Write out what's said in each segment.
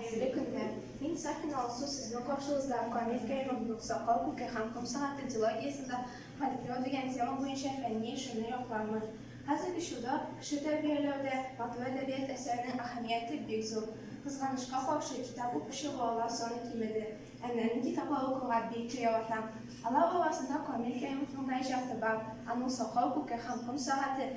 Хәерле көннәр! Мин Сафина Алсу сезнең каршыгызда Камил Кәримов юк Сакал күке һәм ком сәгате дилогиясендә фольклор дигән тема буенча фәнни эшемне яклармын. Хәзерге чорда кеше тәрбияләүдә матур әдәбият әсәренең әһәмияте бик зур. Кызганычка каршы, китап укучы балалар саны кимеде. Ә нәни китаплар укырга бик тә яратам. Алар арасында Камил Кәримовның да иҗаты бар, аның Сакал күке һәм ком сәгате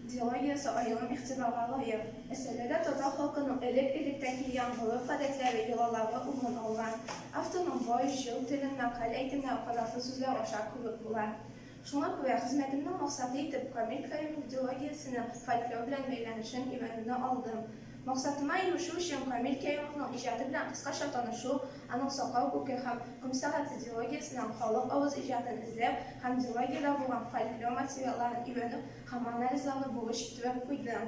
Дилогиясе аерым игътибарга лаек. Әсәрдә татар халкының элек-электән килгән гореф-гадәтләре, йолалары урын алган. Авторның бай, җыр теле мәкаль-әйтемнәр кадәрле сүзләр аша күреп була. Шуңа күрә хезмәтемнең максаты итеп Камил Каюмов дилогиясенең фольклор белән бәйләнешен өйрәнүне алдым. Максатыма ирешү өчен Камил Каюмовның иҗаты белән кыскача танышу, Аның сакал күке һәм комсарасы дилогиясеннән халык авыз иҗатын эзләп һәм дилогиядә булган фольклор материалларын өйрәнү һәм анализлауны бурыч иттереп куйды.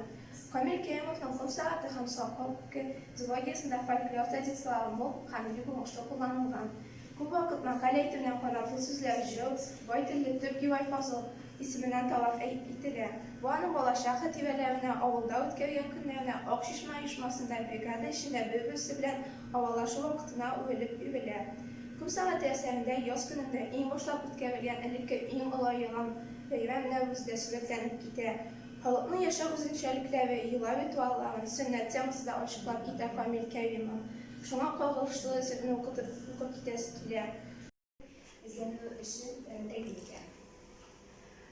Камил Кәримовның Комсараты һәм сакал күке дилогиясендә фольклор традицияләре мул һәм бик уңышлы кулланылган. Күп вакыт мәкаль әйтүне канатлы сүзләр, җыр, бай телле төп герой Фазыл исеменнән таләп ителә. Бу аның балачак хатирәләренә, авылда үткәргән көннәренә, Ак чишмә оешмасында бригада эчендә бер-берсе белән Һавалашу вакытына үрелеп үрелә. Күп сәгате әсәрендә яз көнендә иң башлап үткәрелгән элекке иң олы яңа бәйрәм Нәүрүз дә сурәтләнеп китә. Халыкның яшәү үзенчәлекләре, йола ритуалларын, сөннәт темасы да ачыклап китә Камил Кәримов. Шуңа кагылышлы җырны укытып укып китәсе килә. эзләнү эше тәкъдим итә.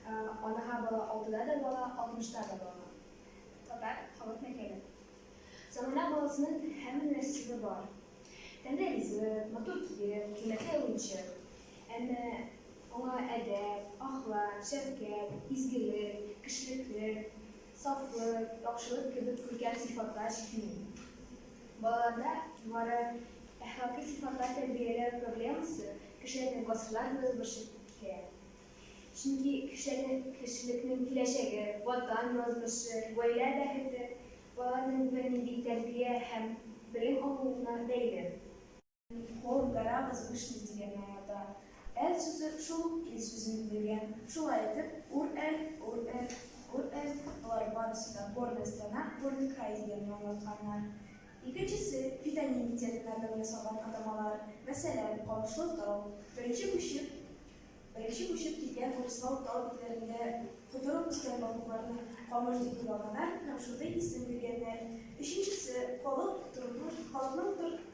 Анаһа бала алтыда да бала, алтмышта да бала. Татар халык мәкале. Замана баласының һәммә нәрсәсе бар. Тәмле ризык, матур кием, кыйммәтле уенчык. Әмма аңа әдәп, ахлак, шәфкать, изгелек, кешелекле, Сафлык, яхшылык кебек күркәм сыйфатлар җитми. Балаларда югары әхлакый сыйфатлар тәрбияләү проблемасы кешеләрне гасырлар буе борчып килә. Чөнки кешеләрнең, кешелекнең киләчәге, Ватан язмышы, гаилә бәхете балаларның бернинди тәрбия һәм белем алуына бәйле. Хор, гора возвышенный дигән аңлата. Әл сүзе шул ук ил сүзен белгән. Шулай итеп, Ур-Әл, Ур-Әл, Ур-Әл, болар барысы да горная страна, горный край дигәнне аңлатканнар. Икенчесе, фитоним терминнардан ясалган атамалар. Мәсәлән, Камышлы тау. Беренче күчеп, беренче күчеп килгән урыслар тау битләрендә котырып үскән балыкларны камыш дип уйлаганнар һәм шундый исем биргәннәр. Өченчесе, халык, тормыш, халыкның тор,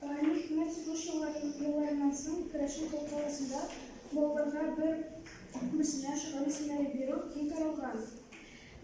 Мәрт сугыш елларыннан соң керәшен халкы арасында балаларга бер күрсенә, шөгыль исемнәре бирү киң таралган.